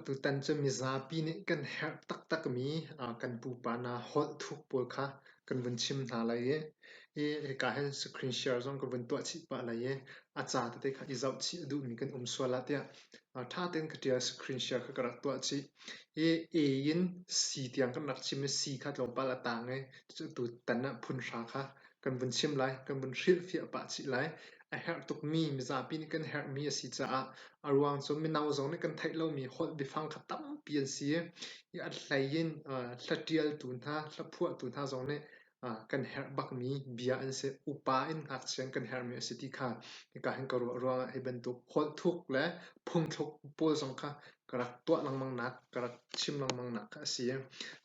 Tutan cu mizapi nih kan herh taktakmi kan pupa hna holh thuk pawl kha kan vun chim hna lai i hika hin screen share zong kan vun tuah chih pah lai i a ca tete kha i zoh chih a duhmi kan um sual ah tiah. Ṭha tein ka ṭial, screen share kha ka rak tuah chih i A in C tiang kan rak chim i C kha tlawmpal a taang i cucu tutan ah phunhra kha kan vun chim lai, kan vun hrilhfiah pah chih lai. A herh tukmi, mizapi nih kan herhmi a si caah a ruang cu mino zong nih kan theih lomi holh biafang kha tampi an si i a hlei in hlaṭialtu hna, hlaphuahtu hna zong nih kan herh bakmi bia an si. Upa in ngakchia in kan herhmi a si ti kha hika hin ka ruah ruangah hi bantuk holhthuk le phungthluk pawl zong kha ka rak tuah lengmang nak, ka rak chim lengmang nak kha a si.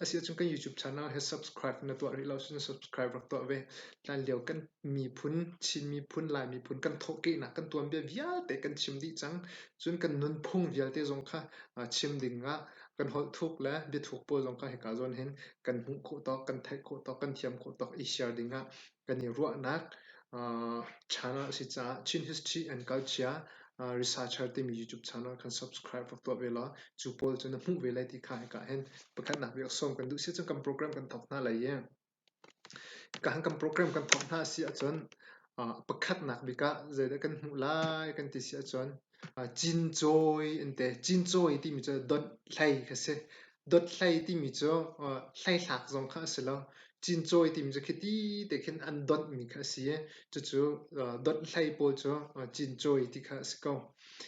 A si ahcun kan YouTube channel he subscribe na tuah rih lo cun subscribe rak tuah ve. Hlan lio kan miphun, Chin miphun, Lai miphun kan thawhkehnak kan tuanbia vialte kan chim dih cang. Cun kan nunphung vialte zong kha chim ding ah kan holhthuk le biathuk pawl zong kha hika zawn hin kan hmuh khawh tawk, kan theih khawh tawk, kan thiam khawh tawk i share ding ah kan i ruahnak uh, channel a si caah Chin History and Culture uh, Researcher timi YouTube channel kan subscribe rak tuah ve law cu pawl cu na hmuh ve lai ti kha hika hen pakhatnak biak sawm kan duh si cun kan program kan thok hna lai ye ka han kan program kan thok hna si ahcun uh, pakhatnak bik ah zeidah kan hmuh lai kan ti si ahcun Cincawi an ti. Cincawi timi cu dawthlei kha a si. Dawthlei timi cu hleithlak zong kha a si lo. Cincawi timi cu khiti te khin an dawtmi kha a si i cucu dawthlei pawl cu cincawi ti kha a si ko.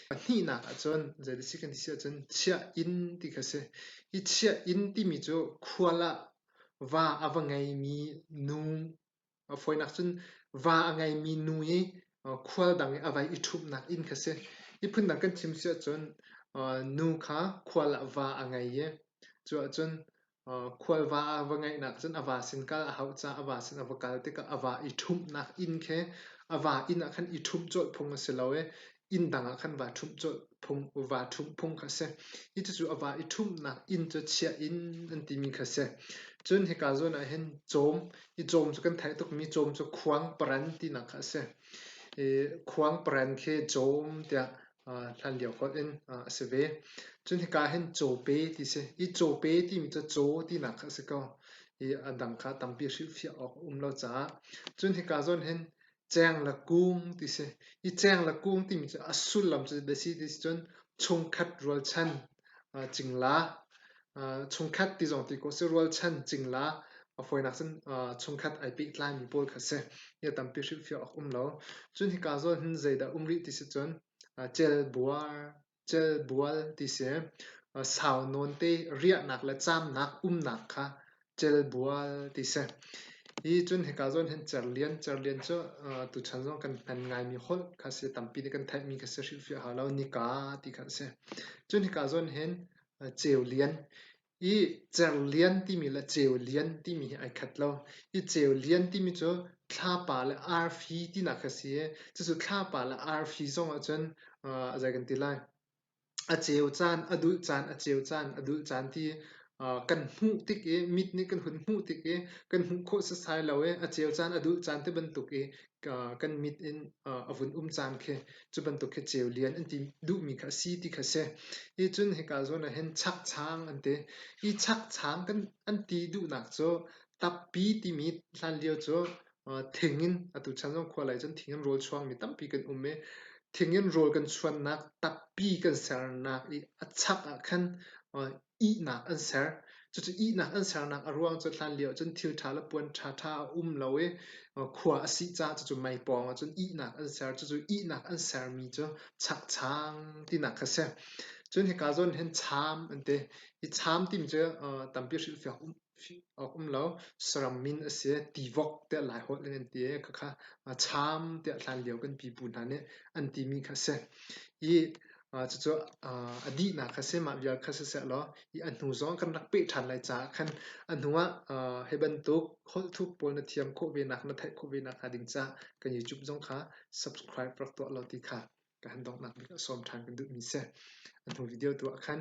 Pahnihnak ahcun zeidah a si kan ti si ahcun chiah-inn ti kha a si. Hi chiah-inn timi cu khual ah va a va ngeimi nu A fawinak cun va a ngeimi nu i khual dang i a vai i ṭhumhnak inn kha si. Hi phundang kan chim si ahcun nu kha khual ah va a ngei i cu ahcun khual va a va ngeihnak cun a va sin kal a hauh caah a va sin a va kal tikah a va i ṭhumhnak inn khi a va inn ah khan i ṭhumh colh phung a si lo i Inn dang ah khan vaa ṭhumh cu vaa ṭhumh phung kha a si. Hi cucu a va i ṭhumhnak inn cu chiah in an timi kha a si. Cun hika zawn ah hin cawm, hi cawm cu kan theih tukmi cawm cu khuang paran tinak kha a si. I khuang paran khi cawm tiah hlan lio holh in a si ve. Cun hika hin cawpe ti a si. Hi cawpe timi cu caw tinak kha a si ko. Hi a dang kha tampi hrilhfiah awk a um lo caah. Cun hika zawn hin Ceng le kung ti si. Hi ceng le kung timi cu a sullam cu a si ti si cun chungkhat rualchan uh, cingla. Uh, chungkhat ti zong ti ko si rualchan cingla. A fawinak cun uh, chungkhat ai pehtlaimi pawl kha si. Hi a tampi hrilhfiah awk um lo. Cun hika zawn hin zeidah um rih ti si cun uh, celbuar celbual ti si. Sau nawn te riahnak le caamnak umnak kha celbual ti si. Hi cun hika zawn hin cerlian, cerlian cu tuchan zong kan hman ngaimi holh kha a si. Tampi nih kan theihmi kha si hrilhfiah hau lo. Nika ti kha a si. Cun hika zawn hin ceulian I cer lian timi le ceu lian timi hi ai khat lo. Hi ceu lian timi cu thlapa le arfi tinak a si i cucu thlapa le arfi zong ahcun aa zei kan ti lai a ceu caan, a dulh caan, a ceu caan, a dulh caan ti kan hmuh tik i mit nih kan hun hmuh tik i kan hmuh khawh setsai lo i a ceu caan, a dulh caan ti bantuk i kan mit in a vun um caan khi cu bantuk khi ceu lian an ti duhmi kha a si ti kha a si. Hi cun hika zawn ahhin chakchang an ti. Hi chakchang kan an ti duhnak cu tappi timi hlanlio cu thing in atu chan zong khualei cun thing in rawl chuangmi tampi kan um i thing in rawl kan chuannak tappi kan sernak i a chak ahkhan ihnak an ser. Cucu ihnak an sernak a ruang cu hlanlio cun thil ṭha le puan ṭhaṭha a um lo i khua a sih caah cucu mei pawngah cun ihnak an ser. Cucu ihnak an sermi cu chakchang tinak kha a si. Cun hika zawn hin cham an ti. Hi cham timi cu tampi hrilhfiak um A um lo. Saram min a si. Tivok tiah Laiholh in an ti i khakha cham tiah hlanlio kan pipu hna nih an timi kha a si. I cucu a dihnak kha si, mah vial kha siseh law i a hnu zong kan rak peh ṭhan lai caah khan a hnuah hi bantuk holhthup pawl na thiam khawh venak, na theih khawh venak hnga ding caah kan YouTube zong kha subscribe rak tuah law ti kha. kan donghnak bik ah sawm ṭhan kan duhmi si. An hnu video tu ah khan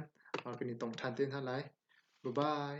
kan i tong ṭhan te hna lai. Bye-bye!